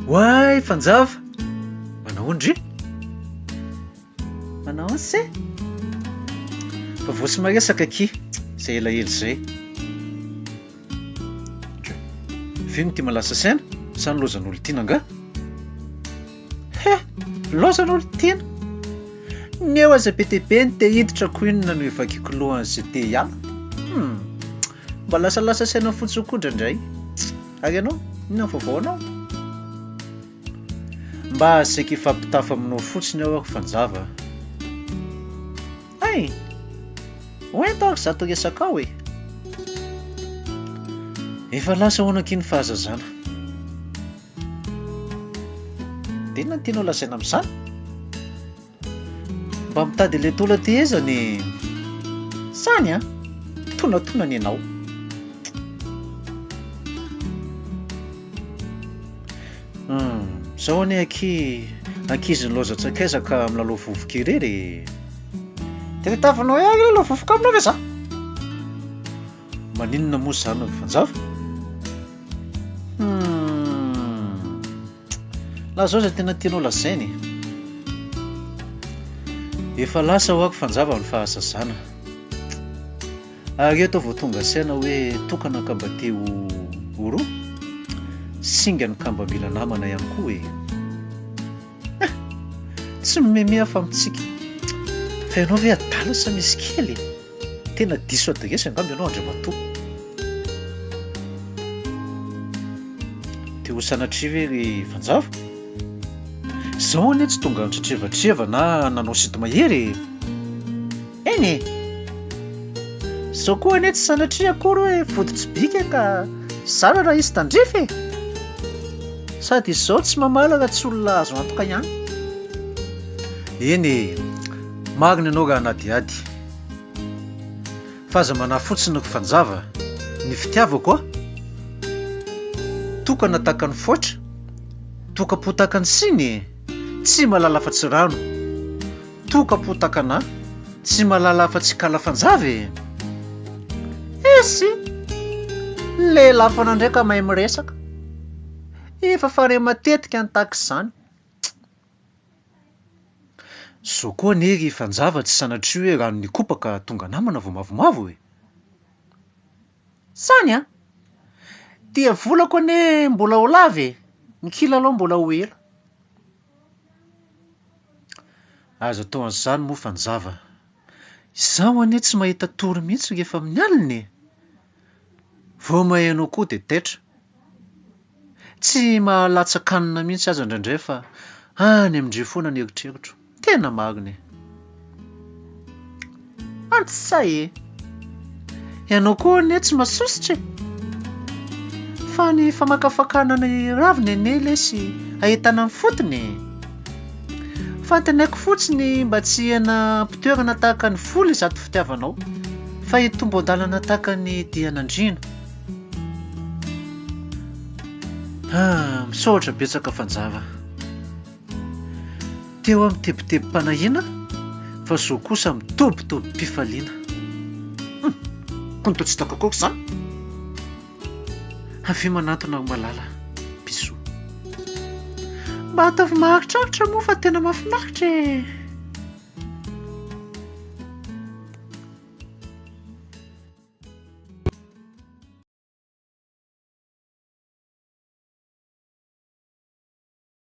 Oay fanjava! Manao ndry? Manao se? Fa vao tsy maresaka aky, izay elaela izay. Vino ty malasa saina, sa ny lozan'olon-tiana angaha? He! Loza aloha ry Tiana! Ny eo aza be dia be ny te hiditra ko inona no hivakiko lohany sy te hiala? Hum! Mba lasalasa saina fotsiny koa indraindray. Ary ianao, inona ny vaovao anao? Mba saika hifampitafa aminao fotsiny aho ry fanjava a! Hey! Ho ento ary izato resakao e! Efa lasa ho anaky ny fahazazana. Inona no tianao lazaina amin'izany? Mba mitady ilay taola aty ezany e! Zany an! Tonantonany ianao. Hum, zao anie aky ankizy nilaozan-tsakaiza ka milalao vovoka irery e! Dia tavy noeagny aloha vovoka aminao ve za? Maninona moa izany ry fanjava? Hum. Lazao izay tena tianao lazaina e. Efa lasa hoako fanjava ny fahazazana. Ary eto vao tonga saina hoe tokana ka mba te ho ho roa. Singa ny kamba mila namana ihany koa e. Tsy mimeme aho fa mitsiky. Fa ianao ve adala sa misy kely e? Tena diso adresy angamba ianao Andriamatoa. Te ho sanatria ve ry Fanjava? Izaho anie tsy tonga nitretrevatreva na nanao sinto-mahery e! Eny e! Izao koa anie tsy sanatria akory hoe vody tsy bika ka zara raha hisy tandrify e! Sady izao tsy mamaly raha tsy olona azo antoka ihany. Eny e! Marina ianao ran'Adiady. F'aza manahy fotsiny ry fanjava, ny fitiavako a! Tokana tahaka ny foitra, toka-po tahaka ny siny e! Tsy malala afa-tsy rano. Toka po takana, tsy malala afa tsy kala fanjava e! Essy! Ny lehilahy foana ndray ka mahay miresaka. Efa fanahy matetika ny tahaka izany. Zo koa anie ry fanjava tsy sanatria hoe rano nikopaka tonga namana vao mavomavo e! Zany an! Dia volako anie mbola ho lava e! Ny kilalao mbola ho ela. Aza atao an'izany moa fanjava. Izaho anie tsy mahita tory mihitsy rehefa amin'ny alina e! Vao maheno akoho dia taitra. Tsy mahalatsa-kanina mihitsy aza indraindray fa any amin-dry foana ny eritreritro. Tena marina e! Antsy sa e! Ianao koa anie tsy masosotra e! Fa ny famakafakana ny raviny anie lesy ahitana ny fotony e! Fantenaiko fotsiny mba tsy hihena am-pitoerana tahaka ny vola izato fitiavanao, fa hitombo an-dalana tahaka ny dian'andriana. Ah, misaotra betsaka fanjava. Teo aho mitebitebim-panahiana fa zo kosa mitobitobim-pifaliana. Hum! Koa ny tao tsy hitako akory izany? Avia manantona aho malala, bisou. Mba ataovy maharitraritra moa fa tena mahafinaritra e!